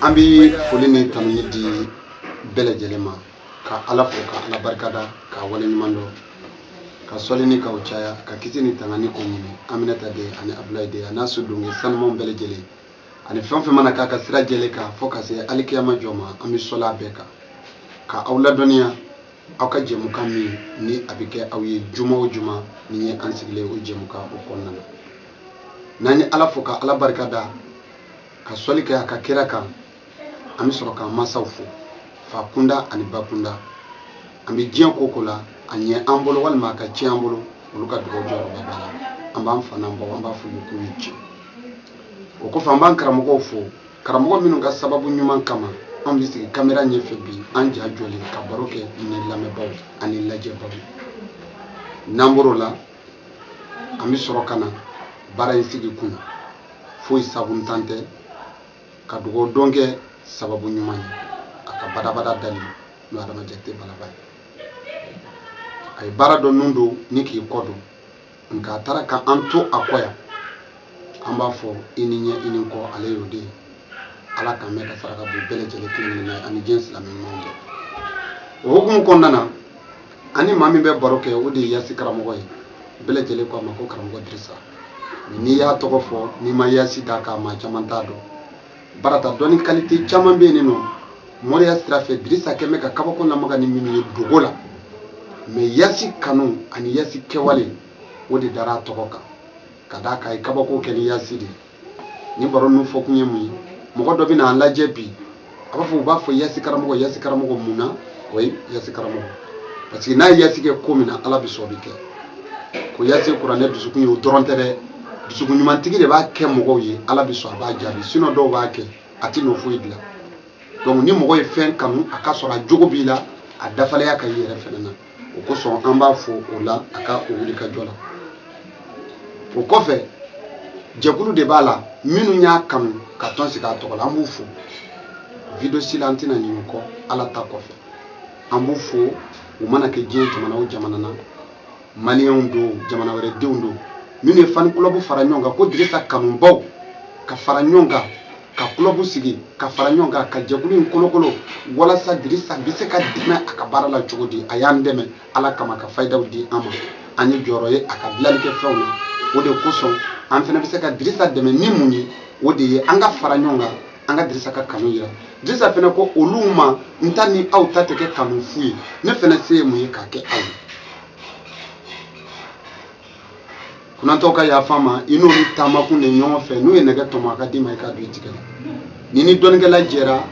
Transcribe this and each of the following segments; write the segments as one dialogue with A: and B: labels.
A: an bɛ foli ni tanuni di bɛɛ lajɛlen ma ka ala fo ka ala barikada k'a wale ɲuman dɔn ka sɔli ni k'a caya ka kisi ni tangani ko ɲini aminata den ani abulayi den a n'a soden sanumanw bɛɛ lajɛlen ani fɛn fɛn mana k'a ka sira jɛlen kan fo ka se alikiyama jɔ ma an bɛ sɔli a bɛɛ kan ka aw ladɔnniya aw ka jɛmukan min ni a bɛ kɛ aw ye juma o juma ni ye an sigilen o jɛmukan o kɔnɔna na n'an ye ala fo ka ala barika da ka sɔli kɛ a ka kira kan an bɛ sɔrɔ k'an masaw fo fa kunda ani ba kunda an bɛ diɲɛ ko ko la a ɲɛ an bolo walima a ka tiɲɛ an bolo olu ka dugawu jɔyɔrɔba b'a la an b'an fa n'an baw an b'a fɔ u ye k'u ni ce o kɔfɛ an b'an karamɔgɔw fo karamɔgɔ minnu ka sababu ɲuman kama an bɛ sigi kamera ɲɛfɛ bi an ja jɔlen ka baro kɛ ni lamɛnbaaw ani lajɛbaaw n'an bɔr'o la an bɛ sɔrɔ ka na baara in sigi kun foyi sabuntan tɛ ka dugawu don kɛ sababu ɲuman ye a ka badabada dali n'o adama jate balaba ye a ye baara dɔ nun don ni k'i kɔ don nka a taara ka an to a kɔ yan an b'a fɔ i ni ɲɛ i ni kɔ ale y'o de ye ala k'an mɛn ka saraka bɔ bɛɛ lajɛlen kelen kelen na ani diɲɛ silamɛ ɲumanw bɛɛ o hukumu kɔnɔna na ani maa min bɛ baro kɛ o de ye yasi karamɔgɔ ye bɛɛ lajɛlen ko a ma ko karamɔgɔ dirisa n'i y'a tɔgɔ fɔ n'i ma yasi d'a kan maa caman t'a dɔn barata dɔnni kalite caman bɛ yen nɔ moriya sira fɛ dirisa kɛ bɛ ka kabako lamaga ni minnu ye dogo la mais yasi kanu ani yasi kɛwale o de dara a tɔgɔ kan ka d'a kan a ye kabako kɛ ni yasi de ye ni baro ninnu fɔkun ye mun ye mɔgɔ dɔ bɛna an lajɛ bi a b'a fɔ u b'a fɔ yasi karamɔgɔ yasi karamɔgɔ mun na o ye yasi karamɔgɔ parce que n'a ye yasi kɛ ko min na ala bɛ sɔn o bɛ kɛ ko yasi kuranɛ dusukun ye o dɔrɔn tɛ dɛ dusukun ɲumantigi de b'a kɛ mɔgɔw ye ala bɛ sɔn a b'a jaabi sinon dɔw b'a kɛ a tɛ nɔ foyi dilan donc ni mɔgɔ ye fɛn kanu a ka sɔrɔ a jogo b'i la a dafalenya ka y'i yɛrɛ fɛnɛ na o kosɔn an b'a fɔ o la a ka o wuli ka jɔ la o kɔfɛ jɛkulu de b'a la minnu y'a kanu ka tɔn sigi a tɔgɔ la an b'u fo vidéo si la an tɛna ɲinɛ u kɔ ala ta kɔfɛ an b'u fo u mana kɛ diɲɛ jamana o jamana na maliyɛnw don jamana wɛrɛ denw don minnu ye fan club fara ɲɔgɔn kan ko dirisa kanubaw ka fara ɲɔgɔn kan ka club sigi ka fara ɲɔgɔn kan ka jɛkulu in kolokolo walasa dirisa bɛ se ka dɛmɛ a ka baara la cogo di a y'an dɛmɛ ala kama ka fayidaw di an ma an ye jɔyɔrɔ ye a ka dilali kɛ fɛnw na o de kosɔn an fana bɛ se ka dirisa dɛmɛ ni mun ye o de ye an ka fara ɲɔgɔn kan an ka dirisa ka kanu yira dirisa fana ko olu ma n ta ni aw ta tɛ kɛ kanu fu ye ne fana se ye mun ye k'a kɛ aw ye kunatɔw ka yafa n ma i n'olu taamakun de ɲɔgɔn fɛ n'u ye nɛgɛ tɔmɔ a ka d'i ma i ka don i tigɛ la n'i ni dɔnnikɛla jɛra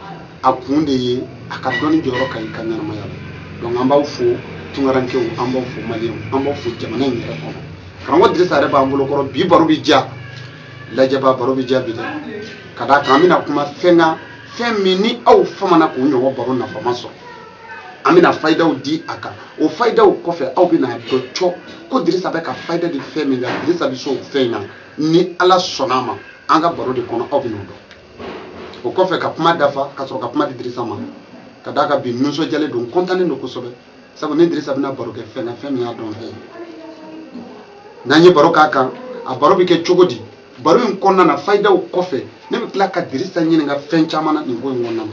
A: a kun de ye a ka dɔnni jɔyɔrɔ kɛ i ka ɲɛnamaya la donc an b'aw fo tunkarankew an b'aw fo maliyɛnw an b'aw fo jamana in yɛrɛ kɔnɔ karamɔgɔ dirisa yɛrɛ b'an bolo kɔrɔ bi baro bɛ diya lajɛbaw baro bɛ diya bi dɛ ka d'a kan an bɛna kuma fɛn kan fɛn min ni aw famana k'o ɲɔgɔn baro nafama sɔrɔ an bɛna fayidaw di a kan o fayidaw kɔfɛ aw bɛna a dɔn cɔ ko dirisa bɛ ka fayida di fɛn min na dirisa bɛ se o fɛn in na ni ala sɔnna a ma an ka baro de kɔnɔ aw bɛna o dɔn o kɔfɛ ka kuma dafa ka sɔrɔ ka kuma di dirisa ma ka d'a kan bi nisɔndiyalen don n kɔntannen don kosɛbɛ sabu ne ni dirisa bɛna baro kɛ fɛn na fɛn min y'a dɔnfɛn ye n'an ye baro k'a kan a baro bɛ kɛ cogo di baro in kɔnɔna na fayidaw kɔfɛ ne bɛ tila ka dirisa ɲininka fɛn caman na nin ko in kɔnɔna na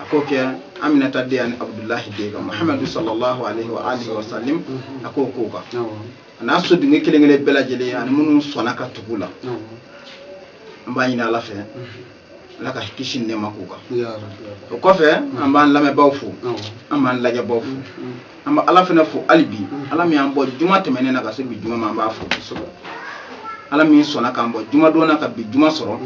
A: a k'o kɛ aminata den ani abudulahi den kan muhamadu sallallahu alaihi wa alihi wa sallim a k'o k'o kan a n'a so dingɛ kelen kelen bɛɛ lajɛlen ani minnu sɔnna ka tugu u la an b'a ɲini ala fɛ ala ka kisi ni nɛɛma k'u kan o kɔfɛ an b'an lamɛnbaaw fo an b'an lajɛbaw fo an bɛ ala fana fo hali bi ala min y'an bɔ juma tɛmɛnen na ka se bi juma ma an b'a fo kosɛbɛ ala min sɔnna k'an bɔ jumadon na ka bi juma sɔrɔ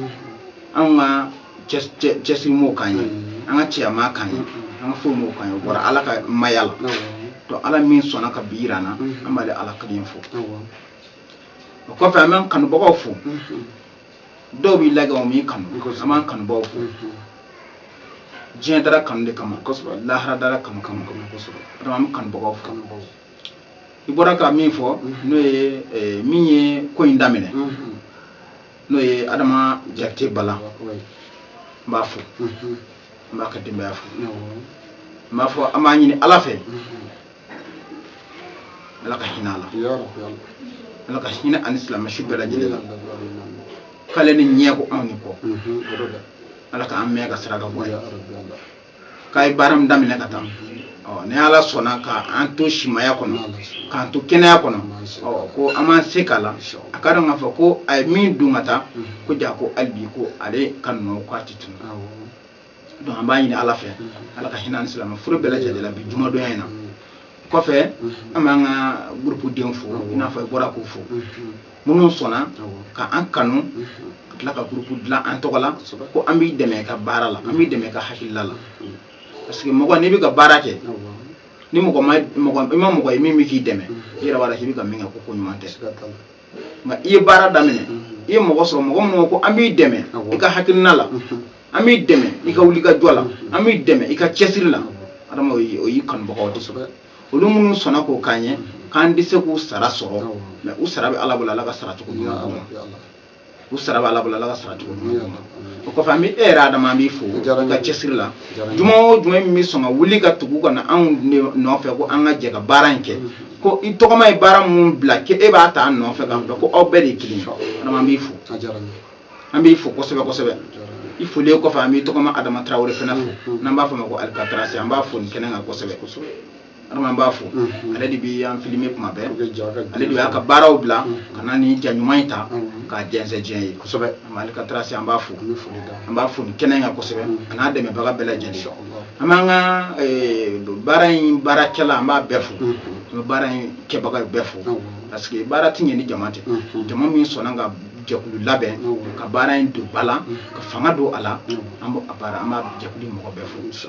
A: anw ka cɛsiri m'o k'an ye an ka cɛya m'a k'an ye an ka fɛnw m'o k'an ye o bɔra ala ka maya la to ala min sɔnna ka bi yira an na an b'ale ala kelen fo o kɔfɛ an b'an kanubagaw fo dɔw b'i lajɛ u m'i kanu an b'an kanubagaw fo diɲɛ dara kanu de kama kosɛbɛ lahara dara kanu kama kosɛbɛ an bɛ kanubagaw fo i bɔra ka min fo n'o ye min ye ko in daminɛ n'o ye adama jakite bala n b'a fo n b'a ka denbaya fo n b'a fo an b'a ɲini ala fɛ ala ka hinɛ a la ala ka hinɛ a ni silamɛ su bɛɛ lajɛlen la k'ale ni ɲɛ ko anw ni kɔ ala k'an mɛɛn ka saraka bɔ k'a ye baara min daminɛ ka taa ɔ ni ala sɔnna ka an to simaya kɔnɔ k'an to kɛnɛya kɔnɔ ɔ ko an b'an se k'a la a k'a dɔn k'a fɔ ko a ye min dun ka taa k'o diya ko hali bi ko ale ka nɔ k'a ti tunun donc an b'a ɲini ala fɛ ala ka hinɛ an silamɛ fure bɛɛ lajɛlen la bi jumadonya in na kɔfɛ an b'an ka gurupu denw fo i n'a fɔ i bɔra k'u fo minnu sɔnna ka an kanu ka tila ka gurupu dilan an tɔgɔ la ko an b'i dɛmɛ ka baara la an b'i dɛmɛ ka hakilila la parce que mɔgɔ n'i bɛ ka baara kɛ ni mɔgɔ i ma mɔgɔ ye min bɛ k'i dɛmɛ i yɛrɛ b'a dɔn k'i bɛ ka min kɛ ko ko ɲuman tɛ nka i ye baara daminɛ i ye mɔgɔ sɔrɔ mɔgɔ minnu ko an b'i dɛmɛ i ka hakilina la an b'i dɛmɛ i ka wulikajɔ la an b'i dɛmɛ i ka cɛsiri la adama o y'i kanubagaw kosɛbɛ olu minnu sɔnna k'o k'an ye k'an tɛ se k'u sara sɔrɔ mais u sara bɛ ala bolo ala ka sara cogo ɲuman u sara b'ala bolo ala ka sara cogo ɲuman o kɔfɛ an bɛ e yɛrɛ adama an b'i fo i ka cɛsiri la juma o juma min bɛ sɔn ka wuli ka tugu ka na anw nɔfɛ ko an ka jɛ ka baara in kɛ ko i tɔgɔma ye baara minnu bila k'e e b'a ta an nɔfɛ k'a bila ko aw bɛɛ de ye kelen adama an b'i fo an b'i fo kosɛbɛ kosɛbɛ i folilen kɔfɛ an b'i tɔgɔma adama tarawele fana fo n'an b'a fɔ o ma ko alikatarasi an b'a fo nin kɛnɛ kan kosɛbɛ adama an b'a fo mm-hmm. ale de bɛ an filime kuma bɛɛ ale de y'a ka baaraw bila mm-hmm. ka na ni ja ɲuman in ta mm-hmm. k'a jɛnsɛn diɲɛ ye kosɛbɛ alikatarasi an b'a fo an b'a fo ni kɛnɛ kan kosɛbɛ a n'a dɛmɛbaga bɛɛ lajɛlen an b'an ka eh, baara in baarakɛla an b'a bɛɛ fo an bɛ baara in kɛbaga bɛɛ fo parce que baara ti ɲɛ ni jama tɛ jama min sɔnna ka jɛkulu labɛn ka baara in don ba la ka fanga don a la an b'a baara an b'a jɛkulu mɔgɔ bɛɛ fo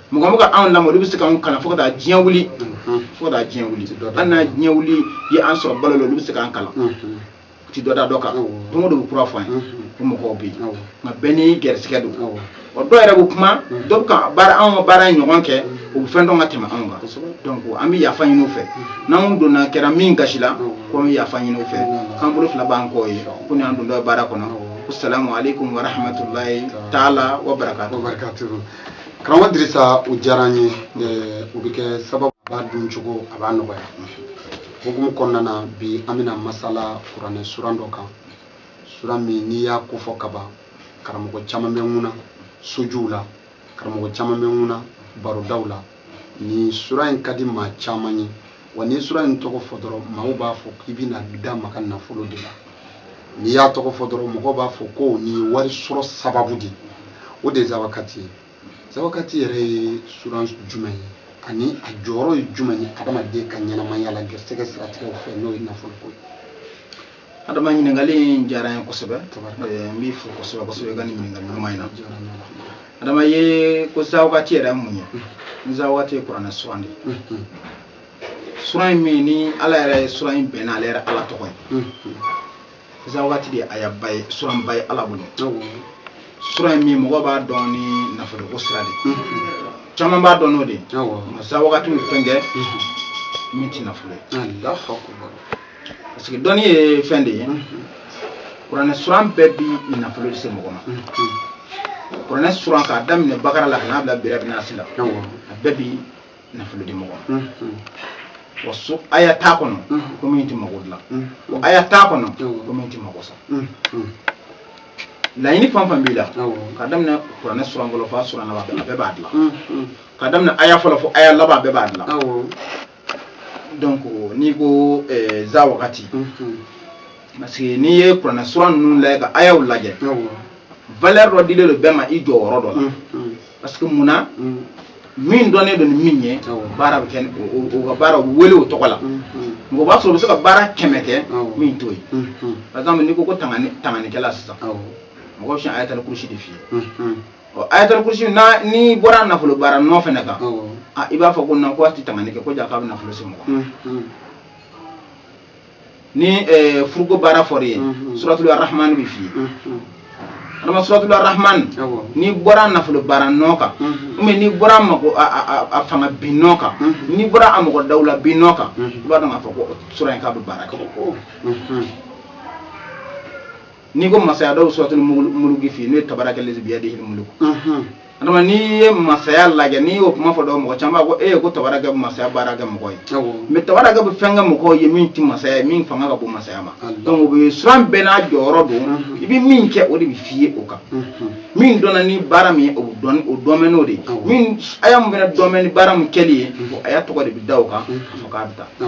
A: mɔgɔ mɔgɔ anw lamɔ olu bɛ se k'anw kalan fo ka taa diɲɛ wuli fo ka taa diɲɛ wuli hali n'a diɲɛ wuli ye an sɔrɔ balo la olu bɛ se k'an kalan u ti dɔ da dɔ kan don o don u kura fɔ an ye ko mɔgɔw bɛ yen nka bɛɛ n'i gɛrɛsɛgɛ don ɔ dɔw yɛrɛ bɛ kuma dɔw bɛ ka baara anw ka baara in ɲɔgɔn kɛ u bɛ fɛn dɔn ka tɛmɛ anw kan donc an bɛ yafa ɲini u fɛ n'anw donna kɛra min gasi la ko an bɛ yafa ɲini u fɛ k'an bolo fila b'an kɔ ye ko ni an don dɔ baara kɔnɔ ko salamu aleykum wa rahmatulahi taala wa barakatu karamɔgɔ dirisa o diyara an ye o bɛ kɛ sababu b'a dun cogo a b'a nɔgɔya hukumu kɔnɔna na bi an bɛna masala kuranɛ suran dɔ kan suran min n'i y'a kofɔ ka ban karamɔgɔ caman bɛ ŋuna sojuw la karamɔgɔ caman bɛ ŋuna barodaw la nin sura in ka di maa caman ye wa ni sura in tɔgɔ fɔ dɔrɔn maaw b'a fɔ k'i bɛna da maa ka nafolo de la n'i y'a tɔgɔ fɔ dɔrɔn mɔgɔw b'a fɔ ko nin ye wari sɔrɔ sababu de o de ye zawakati ye zawakati yɛrɛ ye sura jumɛn ye ani a jɔyɔrɔ ye jumɛn ye adamaden ka ɲɛnamaya la gɛrisɛgɛ siratigɛw fɛ n'o ye nafoloko ye adama ɲininkali in diyara n ye kosɛbɛ n b'i fo kosɛbɛ kosɛbɛ i ka nin ɲininkali ɲuman in na adama ye ko zawagati yɛrɛ ye mun ye izawagati ye kuranɛ suran de ye suran in min ni ala yɛrɛ ye suran in bɛnna ale yɛrɛ ala tɔgɔ ye zawagati de ye ayaba ye suranba ye ala bolo suran in min mɔgɔ b'a dɔn ni nafoloko sira de caman b'a dɔn n'o de ye nka zawagati bɛ fɛn kɛ min tɛ nafolo ye parce que dɔnni ye fɛn de ye kuranɛ suran bɛɛ bi nafolo de se mɔgɔ ma kuranɛ suran k'a daminɛ bakara la ka n'a bila birabinasi la a bɛɛ bi nafolo di mɔgɔ ma wa so aya t'a kɔnɔ ko min tɛ mago dilan wa aya t'a kɔnɔ ko min tɛ mago sa laɲini fɛn fɛn b'i la ka daminɛ kuranɛ suran fɔlɔ fo a suran laban a bɛɛ b'a dilan ka daminɛ aya fɔlɔ fo aya laban a bɛɛ b'a dilan donc n'i ko eh, za wagati parce que n'i ye kuranɛ sura ninnu lajɛ ka ayaw lajɛ valeur dɔ dilen don bɛɛ ma i jɔyɔrɔ dɔ la parce que mun na min dɔnnen don ni min ye baara bɛ kɛ o ka baara wele o tɔgɔ la mɔgɔ b'a sɔrɔ o bɛ se ka baara kɛmɛ kɛ min t'o ye par exemple n'i ko ko tanganikɛla sisan mɔgɔ bɛ sɔn ayatul kursi de f'i ye ɔ ayatul kursi n'i bɔra nafolo baara nɔ fɛnɛ kan a i b'a fɔ ko na ko a ti tangani kɛ ko jaa k'a bɛ nafolo se mɔgɔ mm, mm. ni eh, furuko baara fɔra i ye mm, suratul arahman bi f'i ye adama suratul arahman n'i bɔra nafolo baara nɔ kan mɛ n'i bɔra a mɔgɔ fanga bin nɔ kan n'i bɔra a mɔgɔ dawula bin nɔ kan i b'a dɔn k'a fɔ ko sura in k'a bɛ baara kɛ n'i ko masaya dɔw suratul muluki f'i n'o ye tabaraka lezi biyadi muluku adama n'i ye masaya lajɛ n'i y'o kuma fɔ dɔw mɔgɔ caman b'a ko e ko tabaraka bɛ masaya baara kɛ mɔgɔ ye mɛ tabaraka bɛ fɛn kɛ mɔgɔ ye min ti masaya ye min fanga ka bon masaya ma donc o bɛ suran bɛɛ n'a jɔyɔrɔ don i bɛ min kɛ o de bɛ f'i ye o kan min dɔnna ni baara min ye o dɔn o dɔnnen n'o de ye min aya min fana dɔnnen ni baara min kɛli ye aya tɔgɔ de bɛ da o kan ka fɔ k'a bɛ taa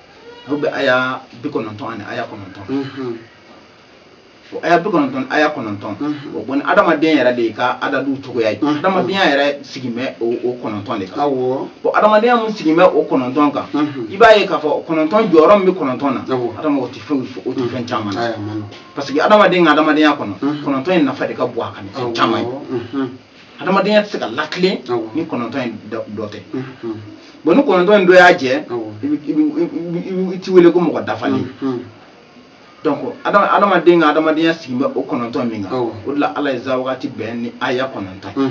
A: o bɛ aya bi kɔnɔntɔn ani aya kɔnɔntɔn o aya bi kɔnɔntɔn aya kɔnɔntɔn o bɔ ni adamaden yɛrɛ de ka adadu cogoya ye adamadenya yɛrɛ sigin bɛ o kɔnɔntɔn de kan bon adamadenya min sigin bɛ o kɔnɔntɔn kan i b'a ye k'a fɔ kɔnɔntɔn jɔyɔrɔ min bɛ kɔnɔntɔn na adama o tɛ fɛn o tɛ fɛn caman na parce que adamaden ka adamadenya kɔnɔ kɔnɔntɔn in nafa de ka bon ni caman ye hadamadenya tɛ se ka latilen ni kɔnɔntɔn in dɔ tɛ bon ni kɔnɔntɔn in dɔ y'a jɛ i ti wele ko mɔgɔ dafalen donc adamaden ka adamadenya sigi bɛ o kɔnɔntɔn min kan o de la ala ye za wagati bɛn ni aya kɔnɔntɔn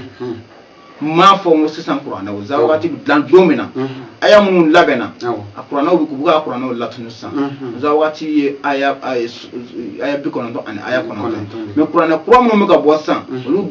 A: m'a fɔ n ko sisan kuranɛ o za wagati bɛ dilan don min na aya minnu labɛnna a kuranɛw bɛ k'u ka kuranɛw latunu sisan za wagati ye aya bi kɔnɔntɔn ani aya kɔnɔntɔn mɛ kuranɛ kura minnu bɛ ka bɔ sisan olu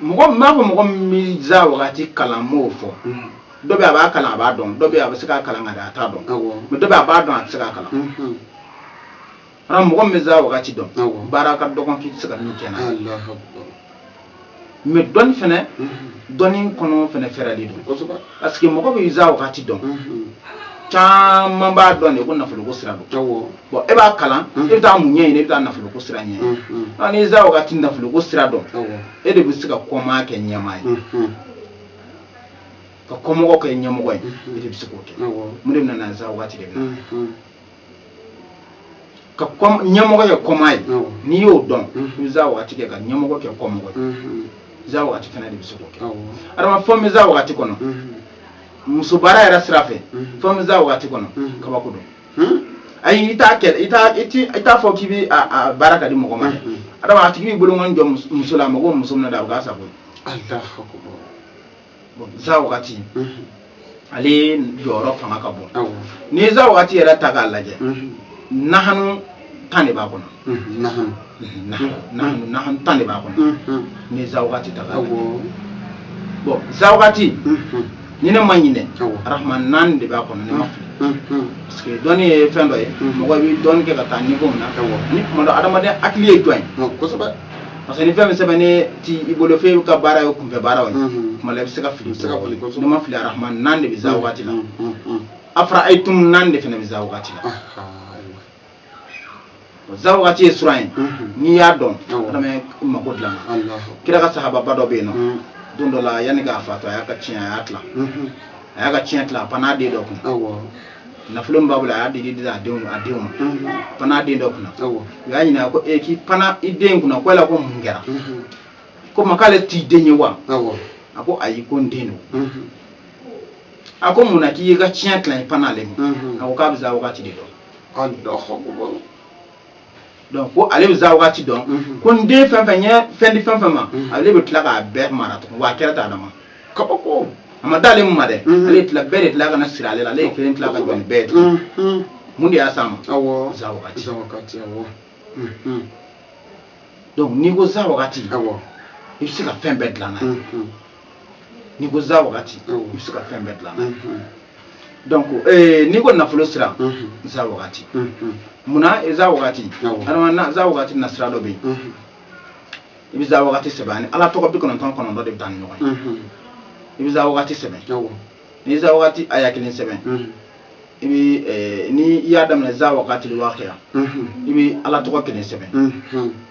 A: mɔgɔ n b'a fɔ mɔgɔ min bɛ za wagati kalan n b'o fɔ dɔ bɛ a b'a kalan a b'a dɔn dɔ bɛ a bɛ se k'a kalan ka dɛ a t'a dɔn mɛ dɔ bɛ a b'a dɔn a tɛ se k'a kalan ara mɔgɔ min bɛ za wagati dɔn baara ka dɔgɔn k'i tɛ se ka min kɛ n'a ye mɛ dɔnni fana dɔnni kɔnɔ fana fɛrɛlen don parce que mɔgɔ bɛ za wagati dɔn caman b'a dɔn de ko nafoloko sira don bon e b'a kalan e bɛ taa mun ɲɛ ɲini e bɛ taa nafoloko sira ɲɛ ɲini ni za wagati nafoloko sira dɔn e de bɛ se ka kɔmaa kɛ ɲɛmaa ye ka kɔmɔgɔ kɛ ɲɛmɔgɔ ye e de bɛ se k'o kɛ mun de bɛ na za wagati de bɛ na ka ɲɛmɔgɔ kɛ kɔmaa ye n'i y'o dɔn i bɛ za waati kɛ ka ɲɛmɔgɔ kɛ kɔmɔgɔ ye za waati fana de bɛ se k'o kɛ adama fɛn bɛ za waati kɔnɔ muso baara yɛrɛ sira fɛ fɛn bɛ za waati kɔnɔ kabako don ayi i t'a kɛ i t'a i t'i i t'a fɔ k'i bɛ a baara ka di mɔgɔ ma dɛ adama a tigi b'i bolokɔni jɔ muso la a mago bɛ muso min na dɛ a bɛ k'a sago ye. bon za wagati ale jɔyɔrɔ fanga ka bon n'i ye za wagati yɛrɛ ta k'a lajɛ nahanu tan de b'a kɔnɔ nahanu nahanu nahanu tan de b'a kɔnɔ n'i ye za wagati ta k'a lajɛ bon za wagati ni ne ma ɲinɛ arahman naani de b'a kɔnɔ ne ma fili parce que dɔnni ye fɛn dɔ ye mɔgɔ bɛ dɔnni kɛ ka taa niveau min na ani tuma dɔ adamaden hakili ye jɔn ye parce que ni fɛn bɛɛ sɛbɛnnen t'i bolo fɛn ka baara ye kunfɛ baara ye kuma la i bɛ se ka fili ne ma fili arahman naani de bɛ za waati la afaraytum naani de fana bɛ za waati la za waati ye suran ye n'i y'a dɔn adama mako dilan kira ka sahababa dɔ bɛ yen nɔ don dɔ la yanni k'a fatu a y'a ka tiɲɛ a y'a tila a y'a ka tiɲɛ tila a pan'a den dɔ kun nafolo min b'a bolo a y'a di a denw a denw ma pana den dɔ kunna u y'a ɲininka ko ee k'i pana i den kunna ko yala ko mun kɛra ko ma k'ale t'i den ye wa a ko ayi ko n den don a ko mun na k'i y'i ka tiɲɛ tilan i pana ale ma a ko k'a bɛ za wagati de dɔn donc ko ale bɛ za waati dɔn mhm. ko n den fɛn fɛn n ye fɛn di fɛn fɛn ma mhm. ale bɛ tila k'a bɛɛ mara tuguni wa a kɛra ten adama kabako a ma d'ale ma dɛ mhm. ale tila bɛɛ de tila ka na siri ale la ale ye kelen tila ka jɔ ni bɛɛ tuguni mun de y'a s'a ma za wagati donc n'i ko za wagati i bɛ se ka fɛn bɛɛ dilan n'a ye n'i ko za wagati i bɛ se ka fɛn bɛɛ dilan n'a ye donc eh, n'i ko nafolo sira za wagati munna i za wagati adama za wagati na sira dɔ bɛ yen i bɛ za wagati sɛbɛn ani ala tɔgɔ bi kɔnɔntɔn kɔnɔntɔn de bɛ taa ni ɲɔgɔn ye i bɛ za wagati sɛbɛn n'i za wagati aya kelen sɛbɛn i bɛ eh, ni i y'a daminɛ za wagati lwakiya i bɛ ala tɔgɔ kelen sɛbɛn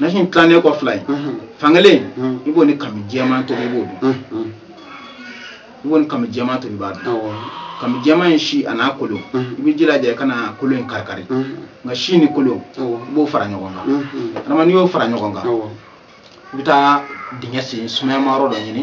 A: nasi tilannen kɔ fila ye fan kelen i b'o ni kami jɛman tobi i b'o dun i b'o ni kami jɛman tobi i b'a dun kami jɛman in si a n'a kolo i b'i jilaja i kana kolo in karikari nka si ni kolo i b'o fara ɲɔgɔn kan adama n'i y'o fara ɲɔgɔn kan i bɛ taa dingɛ sen sumayama yɔrɔ dɔ ɲini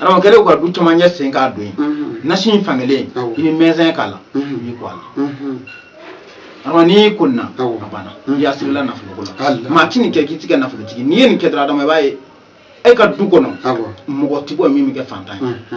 A: adama kɛlen kɔ ka du caman ɲɛ sen k'a don ye nasi in fankelen i bɛ manja k'a la i b'i ko a la adama n'i y'i ko nin na a banna i y'a siri i la nafoloko la maa ti nin kɛ k'i ti kɛ nafolotigi n'i ye nin kɛ dɔrɔn adama i b'a ye a ka du kɔnɔ mɔgɔ ti bɔ min bɛ kɛ fantan ye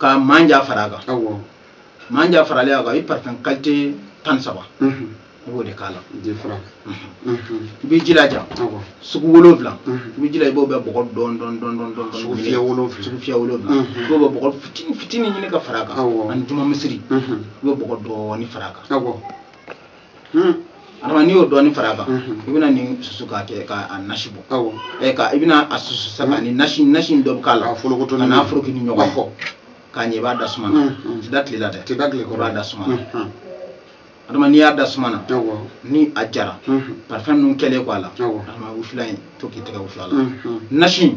A: ka manja fara a kan manja faralen a kan i parifɛn kalite tan saba i b'o de k'a la i b'i jilaja sugu wolonwula i b'i jila i b'o bɛɛ bɔgɔ dɔɔni dɔɔni dɔɔni dɔɔni dɔɔni sugufiyɛ wolonwula sugufiyɛ wolonwula i b'o bɛɛ bɔgɔ fitini fitini ɲini ka fara a kan ani juma misiri i b'o bɔgɔ dɔɔni fara a kan adama n'i y'o dɔɔni fara a kan i bɛna nin susu k'a kɛ k'a nasi bɔ ɛ ka i bɛna a susu sa ka ni nasi nasi dɔ bɔ k'a la ka n'a foroki ni ɲɔgɔn fo k'a ɲɛ i b'a da suma na a ti da tile la dɛ a ti da tile kɔrɔ i b'a da suma na adama n'i y'a da suma na ni a jara parifɛn ninnu kɛlen kɔ a la adama wusulan in to k'i tɛgɛ wusu a la nasi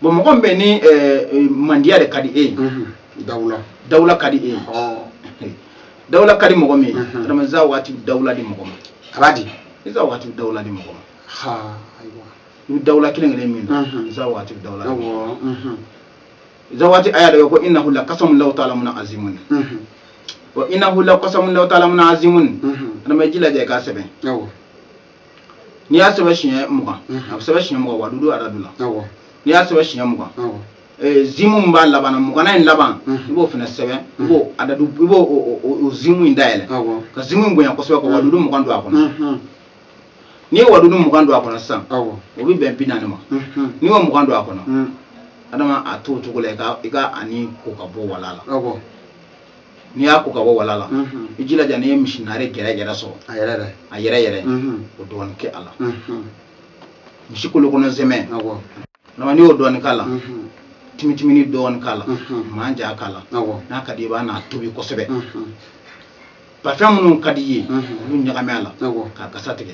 A: bon mɔgɔ min bɛ ni eh, eh, mandiya de ka di e ye mhm. dawula dawula ka di e ye oh. dawula ka di mɔgɔ min ye mhm. adama za waati dawula di mɔgɔ ma a b'a di iza waati dawula di mɔgɔ ma i bɛ dawula kelen kelen min na mhm. za waati dawula za waati aya dɔ ko innahu lakasamun law taalamuna azimun wa innahu lakasamun law taalamuna azimun adama i jilaja i k'a sɛbɛn n'i y'a sɛbɛn siɲɛ mugan a bɛ sɛbɛn siɲɛ mugan wadudu adadu la n'i y'a sɛbɛn siɲɛ mugan mimu min b'a laban na mugannan in laban i b'o fana sɛbɛn i b'o adadu i b'o mimu in dayɛlɛ ka mimu in bonya kosɛbɛ ka wadudu mugan don a kɔnɔ n'i ye wadudu mugan don a kɔnɔ sisan o bɛ bɛn bi naani ma n'i y'o mugan don a kɔnɔ adama a t'o cogo la i ka nin ko ka bɔ wala la n'i y'a ko ka bɔ wala la i jilaja n'i ye misi naare gɛrɛ gɛrɛ sɔrɔ a yɛrɛ yɛrɛ a yɛrɛ yɛrɛ o dɔɔni kɛ a la misi kolo kɔnɔ sɛmɛ adama n'i y'o dɔɔni k'a la timitimini dɔɔni k'a la manja k'a la n'a ka di i ye i bɛna a tobi kosɛbɛ parifɛn minnu ka di i ye olu ɲagami a la k'a kasa tigɛ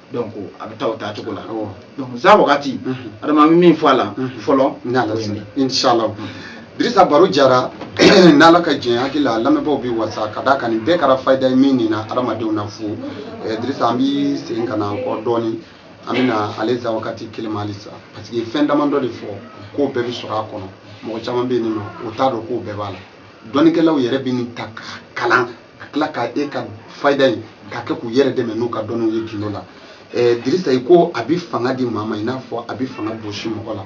A: donc a bɛ taa o taacogo la donc za wagati adama bɛ min fɔ a la fɔlɔ inshallah Dirisa baro diyara n'ala ka jɛn n hakili la lamɛnbaaw bɛ wasa ka d'a kan nin bɛɛ kɛra fayida ye min nina adamadenw na fo eh, Dirisa an bɛ segin ka na kɔ dɔɔni an bɛ na ale za wagati kelen ma halisa parce que fɛn damadɔ de fɔ k'o bɛɛ bɛ sɔrɔ a kɔnɔ mɔgɔ caman bɛ yen nɔ o t'a dɔn k'o bɛɛ b'a la dɔnnikɛlaw yɛrɛ bɛ nin ta ka kalan ka tila ka e ka fayida ye k'a kɛ k'u yɛrɛ dɛmɛ n'u ka dɔnniw ye gindo la ɛɛ dirisa i ko a bɛ fanga di maa ma i n'a fɔ a bɛ fanga bɔsi mɔgɔ la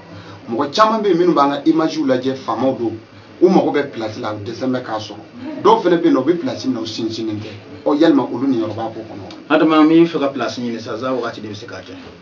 A: mɔgɔ caman bɛ yen minnu b'an ka imaziw lajɛ faamaw don u mago bɛ pilasi la u dɛsɛn bɛ k'a sɔrɔ dɔw fana bɛ yen nɔ u bɛ pilasi minɛ u sinsinnen tɛ ɔ yalima olu niyɔrɔ b'a ko kɔnɔ. adama n bɛ fɛ ka pilasi ɲini sisan za wagati de bɛ se k'a kɛ.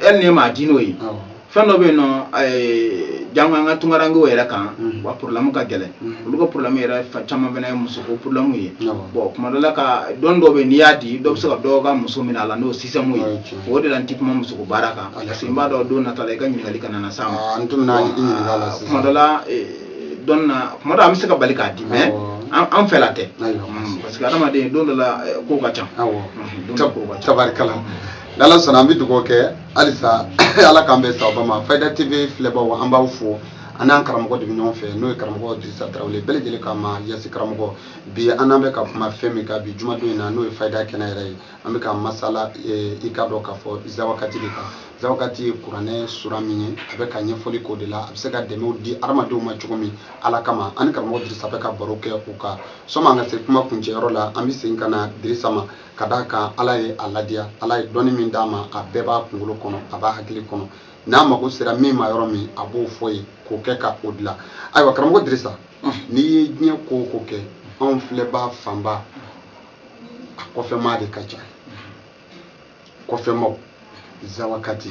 A: e ni ye maa di n'o ye fɛn dɔ bɛ yen nɔ janko an ka tunkarankew yɛrɛ kan mm. wa problème ka gɛlɛn mm. olu ka problème yɛrɛ fa caman fana ye musoko problème ye bon kuma dɔ la ka dɔn dɔ bɛ n'i y'a di dɔ bɛ se ka dɔw ka muso minɛ a la n'o système ye o de la n ti kuma musoko baara kan parce que n b'a dɔn don nata la i ka ɲininkali kana na s'a ma ah, kuma dɔ la eh, dɔn na kuma dɔ an bɛ se ka bali k'a di mais an fɛla tɛ mm, parce que adamaden don dɔ la eh, kow ka ca tabarikala n'ala sɔnna an bɛ dugawu kɛ halisa ala k'an bɛɛ sababu ma fayida tv filɛbaaw an b'aw fo an n'an karamɔgɔ de bɛ ɲɔgɔn fɛ n'o ye karamɔgɔ dirisa tarawele bɛɛ lajɛlen k'a ma yasi karamɔgɔ bi an n'an bɛ ka kuma fɛn min kan bi jumadon in na n'o ye fayida kɛnɛ yɛrɛ ye an bɛ ka masala eh, i k'a dɔn k'a fɔ zawakati de kan zawakati ye kuranɛ sura min ye a bɛ ka ɲɛfɔli k'o de la a bɛ se ka dɛmɛw di hadamadenw ma cogo min ala kama an ni karamɔgɔ dirisa bɛ ka baro kɛ o kan sɔmi an ka se kuma kuncɛyɔrɔ la an bɛ segin ka na dirisa ma ka d'a kan ala ye a ladiya ala ye dɔnni min d'a ma a bɛɛ b'a kunkolo kɔnɔ a b'a hakili kɔnɔ n'a mago sera min ma yɔrɔ min a b'o fɔ i ye k'o kɛ ka o dilan ayiwa karamɔgɔ dirisa n'i ye diɲɛ ko o ko kɛ anw filɛbaa fanba a kɔfɛmaa de ka ca kɔfɛmaaw zawakati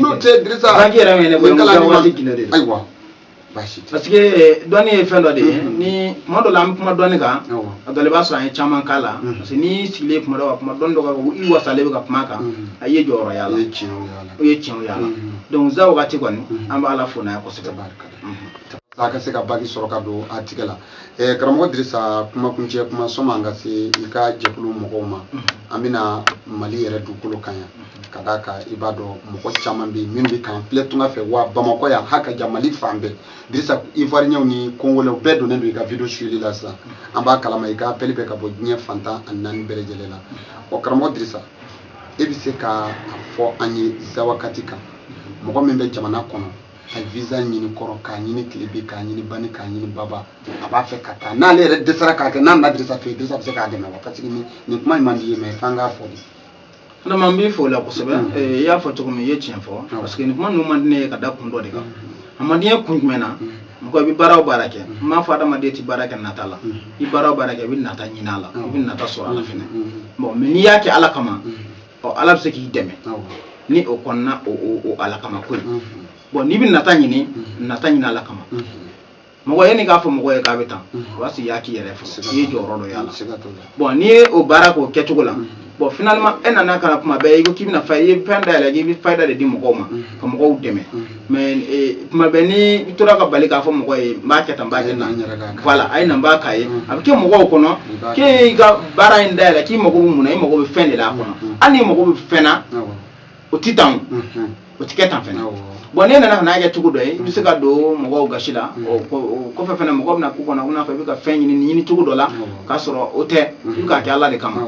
A: n'o tɛ dirisa bague yɛrɛ min ye ne bolo musa waati ginde de don ayiwa baasi tɛ parce que eh, dɔnni ye fɛn dɔ de ye mm-hmm. ni kuma dɔ la an bɛ kuma dɔnni kan a dɔ la i b'a sɔrɔ an ye caman k'a la mm-hmm. parce que n'i sigilen kuma dɔ kan kuma dɔnni dɔ kan i wasalen bɛ ka kuma kan mm-hmm. a ye jɔyɔrɔ y'a la o ye tiɲɛw y'a la donc zawakati kɔni an b'a la fo n'a ye kosɛbɛ a ka se ka bague sɔrɔ ka don a tɛgɛ la Eh, karamɔgɔ dirisa kumakuncɛ kuma sɔma an ka se i ka jɛkulu mɔgɔw ma mhm. an bɛna mali yɛrɛ dugukolo kan yan mhm. ka d'a kan i b'a dɔn mɔgɔ caman bɛ yen minnu bɛ k'an filɛ tunga fɛ wa bamakɔ yan ha ka ja mali fan bɛɛ dirisa ivoirienw ni congolaisw bɛɛ donnen don i ka vidéo suyeli la sisan mhm. an b'a kalama i ka appel bɛ ka bɔ diɲɛ fan tan ni naani bɛɛ lajɛlen la ɔ karamɔgɔ dirisa e bɛ se ka a fɔ an ye zawakati kan mɔgɔ min bɛ jamana kɔnɔ ka visa ɲini kɔrɔn k'a ɲini tilebin k'a ɲini bani k'a ɲini baba a b'a fɛ ka taa n'ale yɛrɛ dɛsɛra k'a kɛ n'a na dirisa fɛ dirisa bɛ se k'a dɛmɛ wa parce que nin kuma in man di i ye mais f'an k'a fɔ de vraiment n b'i fo o la kosɛbɛ mm. eh, i y'a fɔ cogo min i ye tiɲɛ fɔ ah. parce que nin kuma ninnu man di ne ye ka da kun dɔ de kan mm. a man di n ye kun jumɛn na mm. mɔgɔ i bɛ baara o baara kɛ n m'a fɔ adamaden tɛ baara kɛ nata la i baara o baara kɛ i bɛ nata ɲini a la i bɛ nata sɔrɔ a la fɛnɛ bon mais n'i y'a kɛ ala kama ɔ ala bɛ se k'i dɛmɛ ni o kɔnɔna o ala kama ko ye bon n'i bɛ nata ɲini nata ɲini ala kama mɔgɔ ye nin k'a fɔ mɔgɔ ye k'a bɛ tan o b'a sɔrɔ i y'a k'i yɛrɛ fɔ i ye jɔyɔrɔ dɔ y'a la bon n'i ye o baara k'o kɛcogo la bon finalement e nana ka na kuma bɛɛ i ko k'i bɛna fa i ye fɛn da yɛlɛ k'i bɛ fayida de di mɔgɔw ma ka mɔgɔw dɛmɛ mais eh, tuma bɛɛ ni i tora ka bali k'a fɔ mɔgɔ ye n b'a kɛ tan n b'a kɛ tan voilà a ye na n b'a k'a ye a bɛ kɛ mɔgɔw kɔnɔ k'e y'i ka baara in dayɛlɛ k'i mago bɛ mun na i mago bɛ fɛn de la a kɔnɔ hali n'i mago bɛ fɛn na o tɛ tan o tɛ kɛ tan fɛnɛ bɔn n'e nana ka n'a kɛ cogo dɔ ye i bɛ se ka don mɔgɔw gasi la o kɔfɛ fɛnɛ mɔgɔ bɛna k'u kɔnɔ i n'a fɔ i bɛ ka fɛn ɲini ɲini cogo dɔ la k'a sɔrɔ o tɛ i bɛ k'a kɛ ala de kama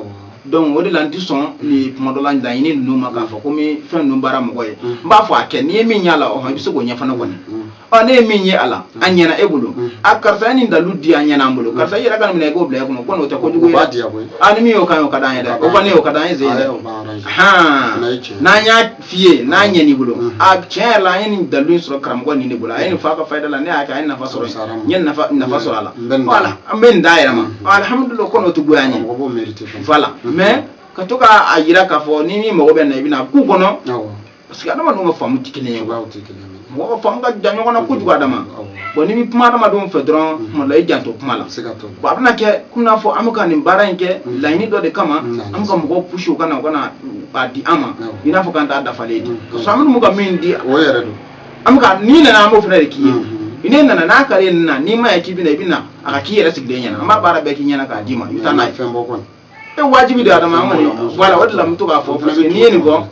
A: donc o de la n tɛ sɔn nin kuma dɔ la laɲini ninnu ma k'a fɔ ko n bɛ fɛn ninnu baara mɔgɔ ye mm. n b'a fɔ a kɛ n'i ye min y'a la ɔhɔn i bɛ se k'o ɲɛ fana kɔni mm. ɔ ne ye min ye a la mm. a ɲɛna e bolo a karisa ye nin dalu di a ɲɛna an bolo karisa i yɛrɛ ka nin minɛ i k'o bila e kɔnɔ ko n'o tɛ kojugu ye dɛ a ni min y'o kan ye o ka d'an ye dɛ o kɔni y'o ka d'an ye zen dɛ hɔn n'an y'a fiye n'a ɲɛn'i bolo a tiɲɛ yɛrɛ la an ye nin dalu in sɔrɔ karamɔgɔ nin de bolo a ye nin f'a ka fayida la ne y'a kɛ a ye nafa sɔrɔ n ye nafa nafa sɔrɔ a la voilà an bɛ nin d'a yɛrɛ ma alihamudulila ko n'o tɛ goya n ye voilà mais ka to k'a yira k'a fɔ ni min mago bɛ n na i bɛna k'u kɔnɔ parce que adamadenw ka faamu tɛ kelen ye mɔgɔ faamu ka jan ɲɔgɔn na kojugu adama bɔn n'i bɛ kuma adamadenw fɛ dɔrɔn tuma la i janto kuma la bɔn a bɛna kɛ komi n'a fɔ an bɛ ka nin baara in kɛ laɲini dɔ de kama an bɛ ka mɔgɔw pusi u ka na u ka na a di an ma i n'a fɔ k'an t'a dafalen ye parce que an bɛ ka min di o yɛrɛ don an bɛ ka n'i nana an b'o fana de k'i ye n'e nana n'a kari nin na n'i ma ye k'i bɛna i bɛna a ka k'i yɛrɛ sigilen ɲɛna an b'a baara bɛɛ k'i ɲɛna k'a d'i ma i bɛ taa n'a ye fɛn bɔ kɔnɔ e wajibi de adama an kɔni voilà o de la n bɛ to k'a fɔ fana n'i ye nin fɔ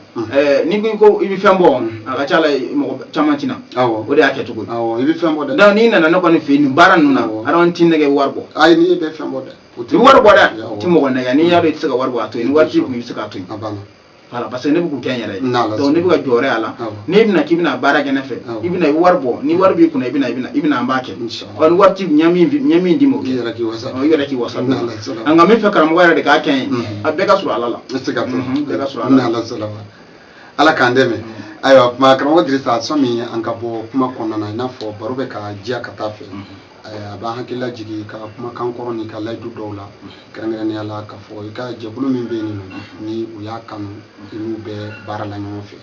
A: n'i ko i ko i bɛ fɛn bɔ a ka ca la mɔgɔ caman tɛ na o de y'a kɛ cogo ye i bɛ fɛn bɔ dɛ donc n'i nana ne kɔni fɛ yen nin baara ninnu na adama n t'i nɛgɛ wari bɔ ayi n'i bɛ fɛn bɔ dɛ i bɛ wari bɔ dɛ n tɛ mɔgɔ nɛgɛ n'i y'a dɔn i tɛ se ka wari bɔ a to yen ni wari t'i kun i bɛ se k'a to yen voilà parce que ne bɛ k'u kɛ n yɛrɛ ye donc ne bɛ ka jɔyɔrɔ y'a la n'e bɛna k'i bɛna baara kɛ ne fɛ i bɛna i bɛ wari bɔ ni wari b'i kunna i bɛna i bɛna i bɛna an b'a kɛ ɔ ni wari t'i ɲɛ min ɲɛ min d'i ma o kɛ i yɛrɛ k'i wasa i yɛrɛ k'i wasa nka n b'a fɛ karamɔgɔ yɛrɛ de k'a kɛ n ye a bɛɛ ka sɔrɔ ala la bɛɛ ka sɔrɔ ala la ala k'an dɛmɛ ayiwa kuma karamɔgɔ dirisa sani an ka bɔ kuma kɔnɔna na i n'a fɔ baro bɛ ka diya ka taa fɛ a b'an hakili lajigin i ka kumakan kɔrɔ n'i ka layidu dɔw la kɛrɛnkɛrɛnnenya la k'a fɔ i ka jɛkulu min bɛ yen ni u y'a kanu i n'u bɛ baara la ɲɔgɔn fɛ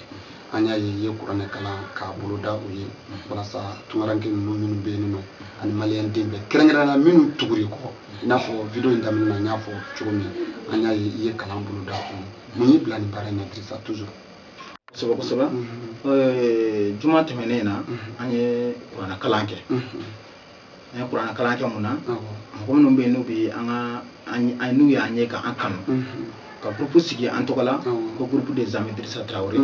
A: an y'a ye i ye kuranɛ kalan k'a boloda u ye walasa tunkaranke ninnu minnu bɛ yen nɔ ani maliyɛn den bɛɛ kɛrɛnkɛrɛnnenya minnu tugur'i kɔ i n'a fɔ video in daminɛ na n y'a fɔ cogo min an y'a ye i ye kalan boloda u ye mun y'i bila nin baara in na Dirisa toujours kosɛbɛ kosɛbɛ juma tɛmɛnen na an ye kuranɛ kalan kɛ an ye kuranɛ kalan kɛ mun na mɔgɔ minnu bɛ yen n'u bɛ an ka n'u y'an ye k'an kanu ka groupe sigi an tɔgɔ la ko groupe des amis Dirisa Traoré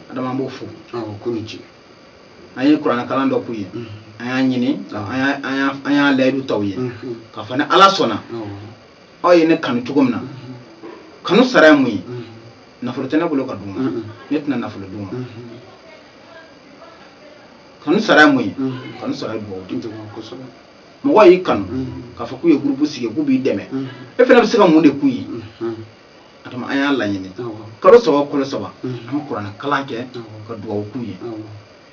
A: adama n b'u fo k'u ni ce an ye kuranɛ kalan dɔ k'u ye an y'a ɲini an y'a layidu t'aw ye k'a fɔ ni ala sɔnna aw ye ne kanu cogo min na kanu sara ye mun ye nafolo tɛ ne bolo ka d'u ma ne tɛna nafolo d'u ma kanu sara ye mun ye kanu sara ye dugawu di kosɛbɛ mɔgɔ y'i kanu k'a fɔ k'u ye gurupu sigi k'u b'i dɛmɛ e fana bɛ se ka mun de k'u ye a tuma an y'a laɲini kalo saba kalo saba an bɛ kuranɛ kalan kɛ ka dugawu k'u ye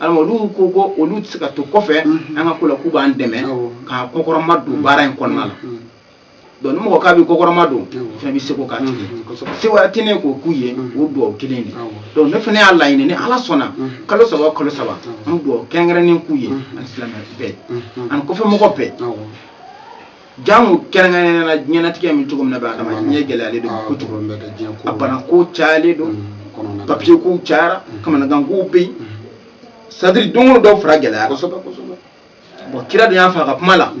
A: adama olu ko ko olu tɛ se ka to kɔfɛ an ka ko la k'u b'an dɛmɛ k'an kɔkɔrɔma don baara in kɔnɔna la donc ni mɔgɔ k'a b'i kɔkɔrɔma don i fana b'i seko k'a tigi se wɛrɛ tɛ ne k'o k'u ye o dugawu kelen de donc ne fana y'a laɲini ni ala sɔnna kalo saba kalo saba an bɛ dugawu kɛrɛnkɛrɛnnen k'u ye ani silamɛ bɛɛ ani kɔfɛmɔgɔ bɛɛ jango kɛrɛnkɛrɛnnenya la diɲɛnatigɛ bɛ cogo min na bi adama diɲɛ gɛlɛyalen don kojugu a banako cayalen don mm, papiye kow cayara mm. kamanagan kow bɛ yen mm. c'est-à-dire don o don dɔ fara gɛlɛya la bon kira dun y'a fɔ a ka kuma la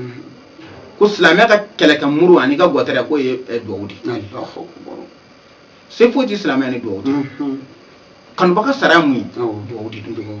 A: ko silamɛ ka kɛlɛkɛ muru ani ka gɔtɛrɛ k'o ye eh, duwawu de se foyi tɛ silamɛ ni duwawu tɛ kanubaga sara mun ye duwawu de don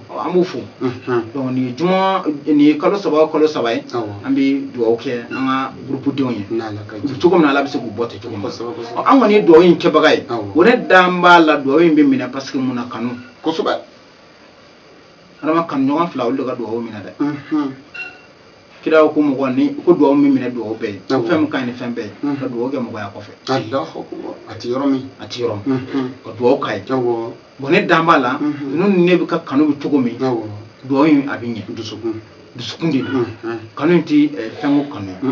A: an b'u fo donc nin ye juma nin ye kalo saba kalo saba ye an bɛ dugawu kɛ an ka gurupudenw ye cogo min na ala bɛ se k'u bɔ ten cogo min na an kɔni ye dugawu in kɛbaga ye o ne dan b'a la dugawu in bɛ minɛ parce que mun na kanu kosɛbɛ adama kanu ɲɔgɔn fila olu de ka dugawu minɛ dɛ kira ko mɔgɔ ni ko dugawu min minɛ dugawu bɛɛ ye fɛn min ka ɲi ni fɛn bɛɛ ye ka dugawu kɛ mɔgɔ y'a kɔfɛ a ti yɔrɔ min a ti yɔrɔ min ka dugawu k'a ye bon ne dan b'a la ninnu ni ne bɛɛ ka kanu bɛ cogo min dugawu in a bɛ ɲɛ dusukun dusukun de don kanu in ti fɛnko kanu ye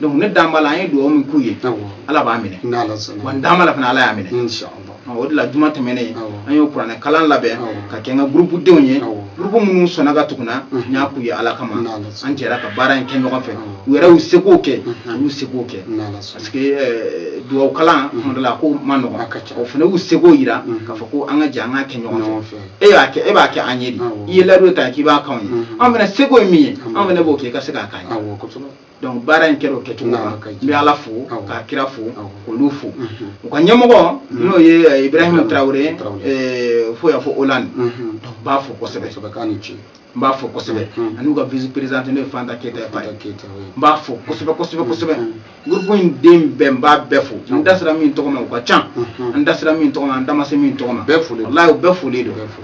A: donc ne dan b'a la an ye dugawu min k'u ye ala b'a minɛ wa n dan b'a la fana ala y'a minɛ o de la juma tɛmɛnen an y'o kuranɛ kalan labɛn k'a kɛ n ka gurupu denw ye gurupu minnu sɔnna ka tugu n na n y'a k'u ye ala kama an jɛra ka baara in kɛ ɲɔgɔn fɛ u yɛrɛ y'u sekow kɛ u y'u sekow kɛ parce que euh, dugawu kalan tuma dɔ la ko man nɔgɔn u fana y'u sekow yira k'a fɔ ko an ka jɛ an k'a kɛ ɲɔgɔn fɛ e y'a kɛ e b'a kɛ an ye de i ye layidu ta k'i b'a k'anw ye an fana seko ye min ye an fana b'o kɛ i ka se k'a k'an ye donc baara in kɛra o kɛcogo la n bɛ ala fo k'a kira fo k'olu fo u ka ɲɛmɔgɔ n'o ye ibrahima tarawele fo y'a fɔ olan n b'a fo kosɛbɛ n b'a fo kosɛbɛ an'u ka vice-présidente n'o ye fanta keyita ye fanta keyita n b'a fo kosɛbɛ kosɛbɛ kosɛbɛ gurupu in den bɛɛ n b'a bɛɛ fo n da sera min tɔgɔ ma u ka ca n da sera min tɔgɔ ma n da ma se min tɔgɔ ma bɛɛ foli walayi u bɛɛ foli don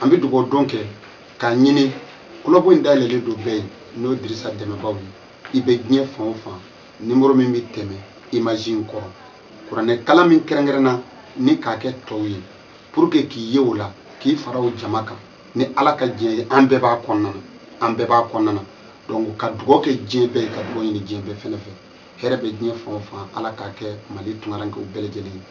A: an bɛ dugawu don kɛ k'a ɲini kulɔbɔ in dayɛlɛlen don bɛɛ ye n'o dirisa dɛmɛbaw ye i bɛ diɲɛ fan o fan nimoro min bɛ tɛmɛ imaji in kɔrɔ kuranɛ kalan min kɛrɛnkɛrɛnna ni k'a kɛ tɔw ye pour que k'i ye o la k'i fara o jama kan ni ala ka diɲɛ ye an bɛɛ b'a kɔnɔna na an bɛɛ b'a kɔnɔna na donc ka dugawu kɛ diɲɛ bɛɛ ye ka dugawu ɲini diɲɛ bɛɛ fɛnɛ fɛ hɛrɛ bɛ diɲɛ fan o fan ala k'a kɛ mali tunkarankew bɛɛ lajɛlen ye